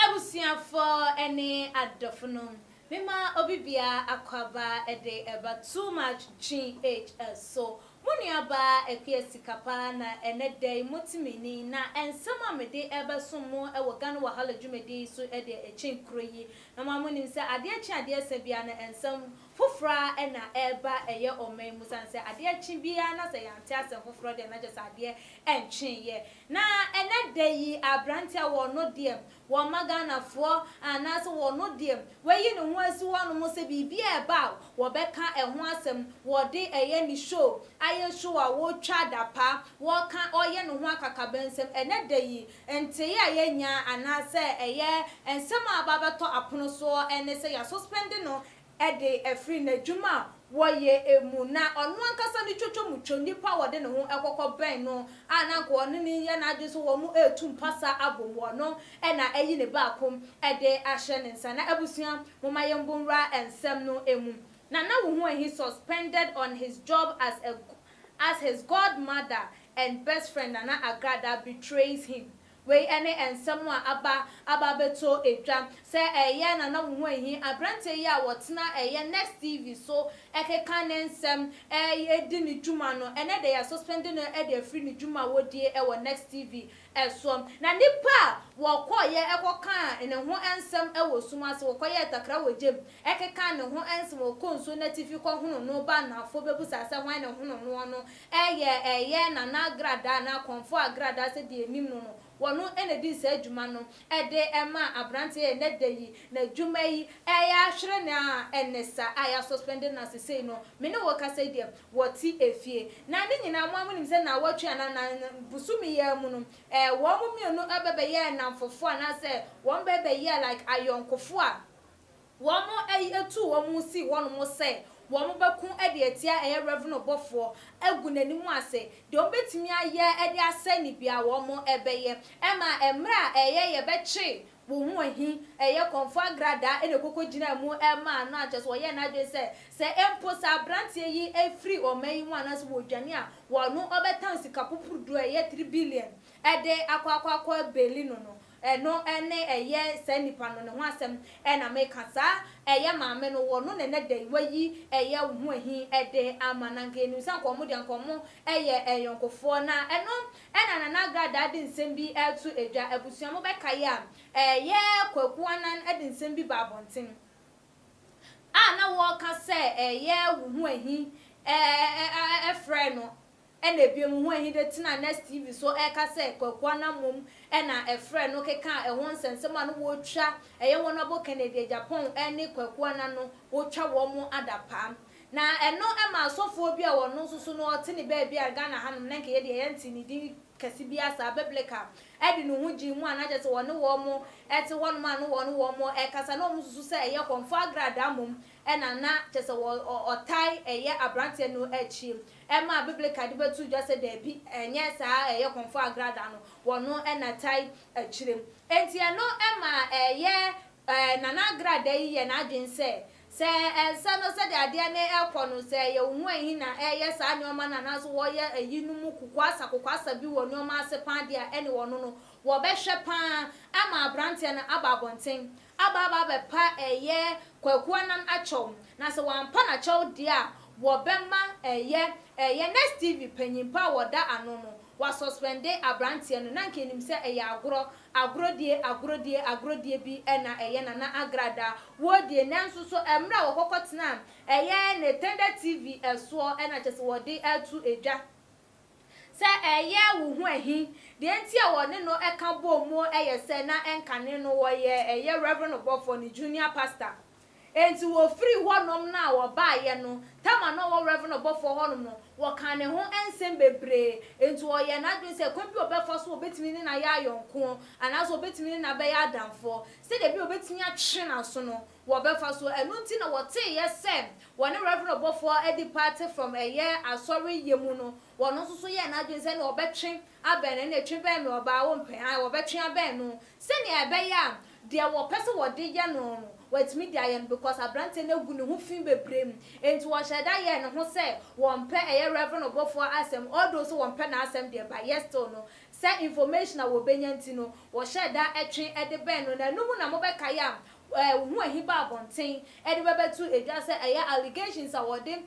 Abusuafoɔ ne adɔfonom, mema obi biara akwaaba de reba too much GH so Mo nuabaa Appiah sika paa na ɛnɛ da yi mote me ni na nsɛm a mede rebɛsom mo wɔ Ghana Wahala dwumadie yi so deɛ ɛkyen kuro yi na mo ara monim sɛ adeɛ kye adeɛ sa biara no nsɛm foforɔ ara na ɛreba ɛyɛ ɔman yi mu sane sɛ adeɛ kye biara na sɛ yɛante asɛm foforɔ deɛ na kyerɛ sɛ adeɛ nkyeeɛ na ɛnɛ da yi aberanteɛ a wɔno deɛ Wɔmma Ghanafoɔ anaasɛ wɔno deɛ wayi ne ho asi hɔ nom sɛ biribi a ɛba a wɔbɛka ɛho asɛm, wɔde ɛyɛ ne show, ayɛ show a wɔtwa adapa, wɔka ɔyɛ ne ho akakabensɛm, ɛnɛ da yi nteeɛ a yɛnyaa anaasɛ ɛyɛ nsɛm a aba abɛtɔ apono soɔ ɛne sɛ yɛasuspɛnde no de afiri n'adwuma a wɔyɛ mu. Ná ɔno ankasa ne twotwo mu two nnipa a wɔde ne ho kɔkɔ bɛn no a na anka ɔne no nyɛ n'adwene sɛ wɔretu mpase abom wɔ no na ayi ne baako de ahyɛ ne nsa. Ná abusua, momma yɛmmɔ nwura nsɛm no mu, na na wohu ahi suspended on his job as a as his godmother and best friend Nana Agrada betrays him Wei ne nsɛm a aba aba abɛtɔ dwa sɛ ɛyɛ na na wo ho ahi aberanteɛ yi a wɔtena ɛyɛ Next TV so keka ne nsɛm di ne dwuma no. Ɛnnɛ deɛ yɛasuspɛnde no de afiri ne dwuma a ɔdie wɔ Next TV soɔ. Na nnipa a wɔkɔeɛ kɔkaa ne ho nsɛm wɔ sum ase, wɔkɔyɛɛ takra wɔ gya mu kekaa ne ho nsɛm, wɔkɔɔ nsuo no atifi kɔhonoo no ba anaafoɔ bɛbusaa sɛ hwan na ɛhonoo noɔ no Ɛyɛ ɛyɛ na na gradaa anaa kɔmfo a gradaa sɛdeɛ yɛnim no no, wɔno na ɛdi saa dwuma no de ma abranteɛ a ɛnnɛ da yi n'adwuma yi reyɛ ahwere no a ɛne sa a yɛasuspɛnde no sesei no me ne wo rekasa yi deɛ wɔte efie. Na ne nyinaa mo ara monim sɛ naawɔtwe anaa na bosome yi ara mu no ɛɛ wɔn mmienu bɛbɛyɛɛ nnamfofoɔ anaasɛ wɔn bɛbɛyɛɛ like ayɔnkofo a Wɔayi atuu wɔn sii hɔnom sɛ wɔbɛko de atia ɛyɛ Rev. Ɔbɔfoɔ agu n'anim ase. Deɛ wɔbɛtumi ayɛ de asɛe no biara wɔbɛyɛ. Ɛma mmerɛ a ɛyɛ yɛbɛkye wo ho ahi, ɛyɛ kɔmfoɔ agradaa na ɛkɔkɔgyinaa mu maa no a, kyerɛ sɛ wɔyɛɛ n'adwene sɛ, sɛ mpo sɛ aberanteɛ yi firi ɔman yi mu anaasɛ wɔdwane a, wɔno ɔbɛtan sika pupuruduo a ɛyɛ three billion de akɔ akɔ akɔ beli no no. Ɛno ne ɛyɛ saa nipa no ne ho asɛm na meka saa ɛyɛ maame no wɔ no na ɛnɛ da yi wayi ɛyɛ wo ho ahi de ama no anka yɛnim sɛ anka ɔmo deɛ anka ɔmo yɛ ayɔnkofoɔ na ɛno na Nana Agradaa de nsɛm bi ɛto dwa abusua mo bɛkae a ɛyɛ Kwaku Anan de nsɛm bi baa abɔnten a na wɔka sɛ ɛyɛ wo ho ahi frɛɛ no Ɛna bio mo ho ahide tenaa Next TV so ɛka sɛ Kwaku Anamom na ɛfrɛ no kekaa ɛho nsɛnsɛm a na wɔtwa ɛyɛ Honourable Kennedy Agyapong ne Kwaku Ana no wotwa wɔn adapaa. Na ɛno ɛma asɔfoɔ bi a ɔno nso so no ɔte ne baabi a Ghana hanom na nka yɛ deɛ yɛntee ne din kɛse biara saa Biblica ɛde ne ho gyee mu a na kyerɛ sɛ ɔne wɔn ɛte hɔnom a na ɔne wɔn ɛkasa na wɔn susu sɛ ɛyɛ kɔmfoɔ agradaa mmom ɛna na kyerɛ sɛ ɔtae ɛyɛ abranteɛ no akyie Ɛma a Bibelka de bɛto dwa sɛ dabi, ɛnyɛ saa a ɛyɛ Kɔmfoɔ Agrada no, wɔno na ɛtae akyire. Enti ɛno ma ɛyɛ Nana Agrada yi yɛ n'adwene sɛ, sɛ ɛnsɛ no sɛdeɛ adeɛ no rekɔ no, sɛ ɛyɛ wo ho ahi na ɛreyɛ saa nneɛma no anaasɛ wɔreyɛ ayinom kokoasa kokoasa bi wɔ nneɛma ase pa ara deɛ a, ɛnneɛ wɔno no, wɔbɛhwɛ pa ara ama aberanteɛ no aba abɔnten. Aba aba abɛpa ɛyɛ Kwaku Annan akyɛw na sɛ wampa no akyɛw deɛ a wɔbɛma ɛyɛ ɛyɛ Next TV panyin pa a wɔda ano no wɔasuspɛnde abranteɛ no na nka ɛnim sɛ ɛyɛ agorɔ agorɔdie agorɔdie agorɔdie bi na ɛyɛ Nana Agrada wɔ die nanso so mmerɛ a wɔkɔkɔ tenaa ɛyɛ Netender TV soɔ na kyɛsɛ wɔde atu dwa. Sɛ ɛyɛ wo ho ahi, deɛ nti a wɔne no ka bɔɔ muo yɛ sɛ na ɛnkane no wɔyɛ ɛyɛ Reverend ɔbɔfoɔ no junior pastor. Enti wɔfirii hɔnom no a wɔbaeɛ no, tam a na ɔwɔ Reverend ɔbɔfoɔ hɔnom no, wɔkaa ne ho nsɛm bebree. Enti ɔyɛɛ n'adwene sɛ kwan bi a ɔbɛfa so a ɔbɛtumi ne no ayɛ ayɔnkoɔ, anaasɛ ɔbɛtumi ne no abɛyɛ adamfoɔ, sɛdeɛ ɛbɛyɛ a ɔbɛtumi atwe n'aso no, wɔbɛfa so. Ɛno nti na wɔteeɛ sɛ wɔne Rev. Obofoɔ adi party from ɛyɛ Asɔre yɛ mu no, wɔn nso so yɛɛ n'adwene sɛ ɛnneɛ wɔbɛtwe abɛn no, ɛnneɛ twe bɛn me ɔbaa wompɛ hann, wɔbɛtwe abɛn no sɛdeɛ ɛbɛyɛ a deɛ wɔpɛ sɛ wɔde yɛ no no wɔatumi de ayɛ no because aberanteɛ no agu ne ho fi bebree mu nti wɔhyɛɛ da yɛɛ ne ho sɛ wɔmpɛ ɛyɛ Rev. Obofoɔ asɛm although sɛ wɔmpɛ n'asɛm deɛ but yet still no sɛ information a wɔbɛnya nti no wɔhyɛɛ da twe de bɛn no na ɛno mu na mobɛkae a eh, wo ho ahi ba abɔnten de bɛbɛto dwa sɛ ɛyɛ allegations a wɔde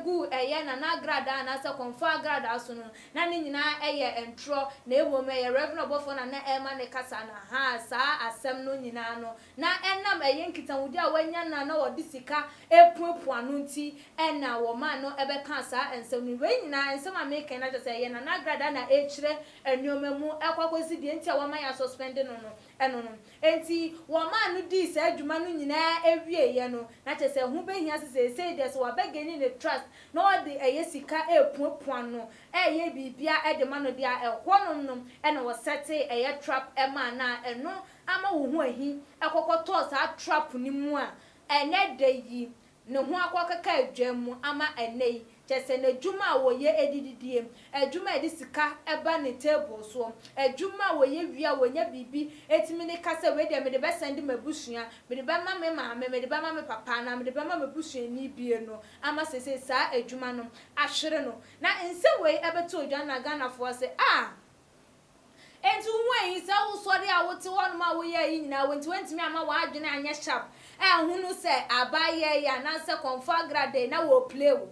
gu ɛyɛ Nana agradaa anaasɛ Kɔmfoɔ agradaa so no, na ne nyinaa yɛ ntorɔ, na mmom ɛyɛ Rev. Ɔbɔfoɔ na na ɛrema ne kasa no, ahaa, saa asɛm no nyinaa no, na ɛnam ɛyɛ nkitahodie a wanya no a na wɔde sika repuapua no nti na wɔmaa no bɛkaa saa nsɛm no. Wei nyinaa, nsɛm a mereka yi no akyerɛ sɛ ɛyɛ Nana agradaa na ɛrekyerɛ nneɛma mu kɔ akɔsi deɛ nti a wɔama yɛasuspɛnde no no, ɛno no. Enti wɔmaa no dii saa dwuma no nyinaa awieeɛ no, na kyerɛ sɛ ɛho bɛhia sɛ seesei deɛ sɛ wɔabɛgeni ne trust na wɔde ɛyɛ sika repuapua no, reyɛ biribiara de ma no deɛ a, ɛhɔnom no na wɔsɛtee ɛyɛ trap maa no a ɛno ama wo ho ahi kɔkɔtɔɔ saa trap no mu a ɛnnɛ da yi ne ho akɔkeka aduan mu ama ɛnnɛ yi, kyerɛ sɛ n'adwuma a ɔyɛ de didie, adwuma a ɛde sika ba ne table soɔ, adwuma a ɔyɛ wie a ɔnya biribi tumi de ka sɛ wei deɛ mede bɛsɛnde m'abusua, mede bɛma me maame, mede bɛma me papa anaa mede bɛma m'abusuani bie no ama seesei saa adwuma no ahwere no. Na nsɛm wei bɛto odwa na Ghanafoɔ ase, ah! Enti wuhu eyi, saa owusɔre a wote hɔnom a woyɛe yi nyinaa, enti woantumi amma w'adwene anyɛ sharp anhu no sɛ abayɛe anaasɛ confagradei na wɔrepire wo,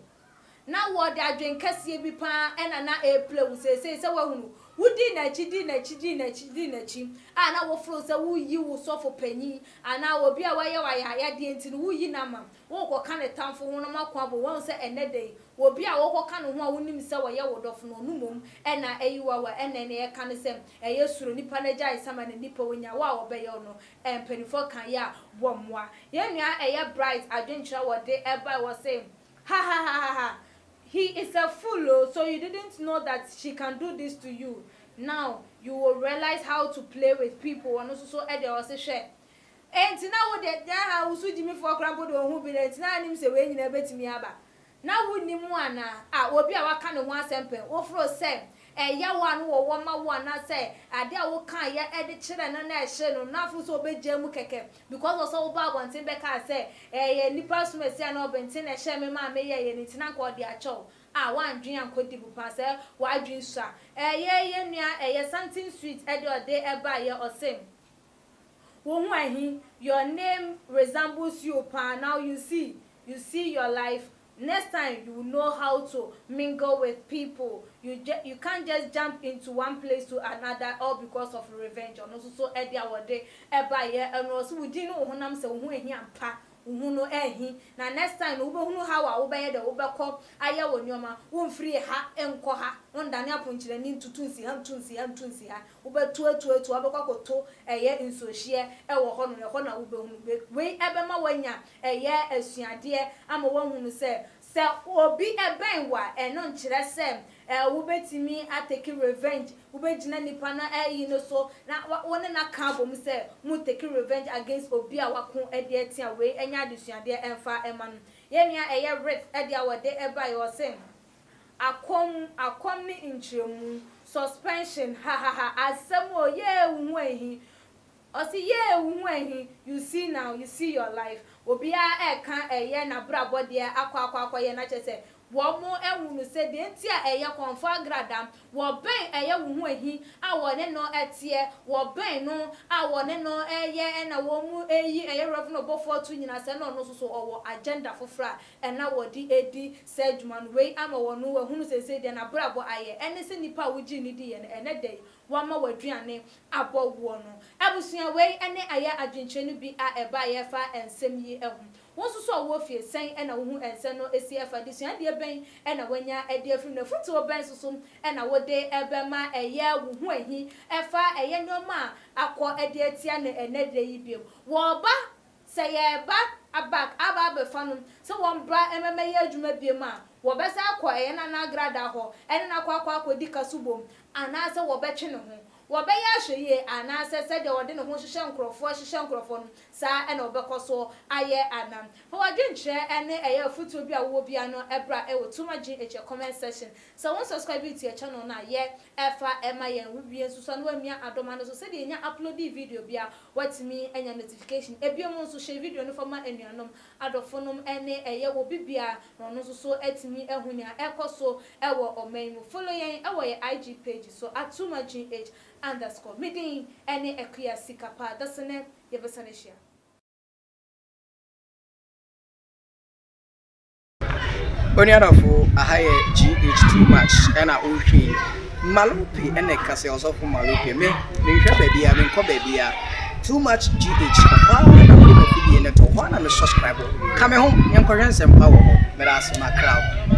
na wɔde adwene kɛseɛ bi pa ara na na ɛrepire wo seesei sɛ woahu no. Wodii n'akyi, dii n'akyi, dii n'akyi, dii n'akyi, a na woforoo sɛ woreyi wo sɔfo panyin anaa obi a wayɛ wo ayayade enti no woreyi no ama no. worekɔka ne tamfo ho no mako abɔ. Woahu sɛ ɛnnɛ da yi, obi a worekɔka ne ho a wunim sɛ ɔyɛ wo dɔfo no, ɔno mmom na ayi wo awa. Ɛnna nea yɛka ne sɛ, Ɛyɛ suro. Nnipa no agye ayesa ma n'ani pɛ wo nya wo a wɔbɛyɛ wo no. Mpanimfoɔ ka yɛ a, wɔmmoa. Yɛn nua a ɛyɛ Bright adwenkyerɛ a wɔde bae hɔ se, Hahahahha, he is a fool o, so you didn't know that she can do this to you, now you will realize how to play with people. Ɔno nso so de ɔse, Hwɛ! Enti na wo deɛ, na ha wo so gyimifoɔ koraa mpo de wo ho bere, enti na wonim sɛ wei nyinaa bɛtumi aba. Na wonni mu anaa? A, obi a woaka ne ho asɛm pɛn. Woforo sɛ, ɛyaw a na wɔwɔ ma wo anaasɛ adeɛ a wokaeɛ de kyerɛɛ no na ɛhyee no no, na aforo sɛ ɔbɛgyae mu kɛkɛ because ɔsɛ wobaa abɔnten bɛkaa sɛ, ɛyɛ nnipa som asi anaa ɔbenten na ɛhyɛɛ me maa meyɛeɛ no nti na anka ɔde akyɛ wo. A, woandwen ankɔ deep paa sɛ w'adwen sua. Ɛyɛ yɛn nua ɛyɛ Santen Sweet ɛde ɔde baeɛ, ɔse. Wohu ahe your name resembles you paa now you see you see your life next time you will know how to mingle with people you ju you can't just jump into one place to another all because of revenge ɔno nso so ɛdeɛ a wɔde ɛbaeɛ ɛno ɔse wo din ne wo honam sɛ wo ho ahi ampa wo ho no ahi na next time no wobɛhunu how a wobɛyɛ dɛ wobɛkɔ ayɛ wo nneɛma womfiri ha nkɔ ha wondane aponkyerɛni ntutu nsi ha ntu nsi ha ntu nsi ha Wobɛto atu atu a wobɛkɔ akɔto ɛyɛ nsuohyeɛ wɔ hɔ no, ɛhɔ na wobɛhunu. Wei wei bɛma woanya ɛyɛ asuadeɛ ama woahunu sɛ, sɛ obi bɛn wo a, ɛno nkyerɛ sɛ ɛɛ wobɛtumi a take revenge, wobɛgyina nipa no ayi no so na wa wo ne no aka abom sɛ mo take revenge against obi a wako de atia. Wei nyɛ adesuadeɛ mfa mma no. Yɛn nua ɛyɛ Ruth deɛ a ɔde baeɛ ɔse, Akɔm, akɔm ne nkyerɛmu, suspension, hahaha, asɛm o, yee wo ho ahi, ɔse yee wo ho ahi, you see now, you see your life, obiara ɛɛka ɛyɛ n'abrabɔ deɛ akɔ akɔ akɔyɛ na kyerɛ sɛ wɔn ɛhunu sɛ deɛ nti a ɛyɛ kɔnfɔ agrada, wɔbɛn ɛyɛ wo ho ahi a wɔne no ɛteɛ, wɔbɛn no a wɔne no ɛyɛ ɛna wɔn ɛyi ɛyɛ Rev. Obofoɔ to nyina sɛ na ɔno nso so ɔwɔ agenda foforɔ a ɛna wɔde ɛdi saa adwuma no. Wei ama wɔn ahunu seesei deɛ n'abrabɔ ayɛ, ɛne sɛ nnipa a wogyee no diiɛ no, ɛnnɛ da yi, wɔama w'aduane abɔ woɔ no. Abusua, wei ne ayɛ adwenkyerɛ no bi a ɛbaeɛ fa nsɛm yi ho. Wo nso so a wowɔ fie, sɛn na wohu nsɛm no si fa? Adesuadeɛ bɛn na woanya de afiri mu, na afotuo bɛn nso so na wode bɛma ɛyɛ wo ho ahi fa ɛyɛ nneɛma a akɔ de atia no ɛnnɛ da yi bio? Wɔreba Sɛ yɛreba abak aba abɛfa no sɛ wɔmbra mmɛmɛyɛ adwuma biom a, wɔbɛsan akɔ ɛyɛ na n'agradaa hɔ ɛne no akɔ akɔ akɔdi ka so bom anaasɛ wɔbɛtwe ne ho. Wɔbɛyɛ ahwɛyie anaasɛ sɛdeɛ ɔde ne ho hyehyɛ nkorɔfoɔ hyehyɛ nkorɔfoɔ no, saa na ɔbɛkɔ so ayɛ ana? Fa w'adwenkyerɛ ɛne ɛyɛ afotuo bi a wowɔ biara no bra wɔ Tumagye Akyɛ comment section. Sɛ wo nsubscribe yi tua channel no a, yɛ fa ma yɛn. Wo wie nso so a na wamia adɔma no so sɛdeɛ yɛnya uploadee video biara. Woatumi anya notification. Biom nso share video no fa ma anuanom, adɔfo nom ne ɛyɛ wɔ bi bia na ɔno nso so atumi ahu nea ɛkɔ so wɔ ɔman yi mu. Follow yɛn wɔ yɛn IG page so at Tumah-GH underscore. Me din ne Akua Sikapa. Dasene yɛbɛsan ahyia. Onuadɔfo, aha yɛ GH too much ɛna wohwɛ yi. Malope ɛna ɛka sɛ ɔsɔfo Malope me menhwɛ baabia menkɔ baabia too much GH ɔhɔ ara na mede m'afidie no to hɔ na me subscribe ka me ho yɛnkɔhwɛ nsɛmpa wɔ hɔ meda ase makra wo.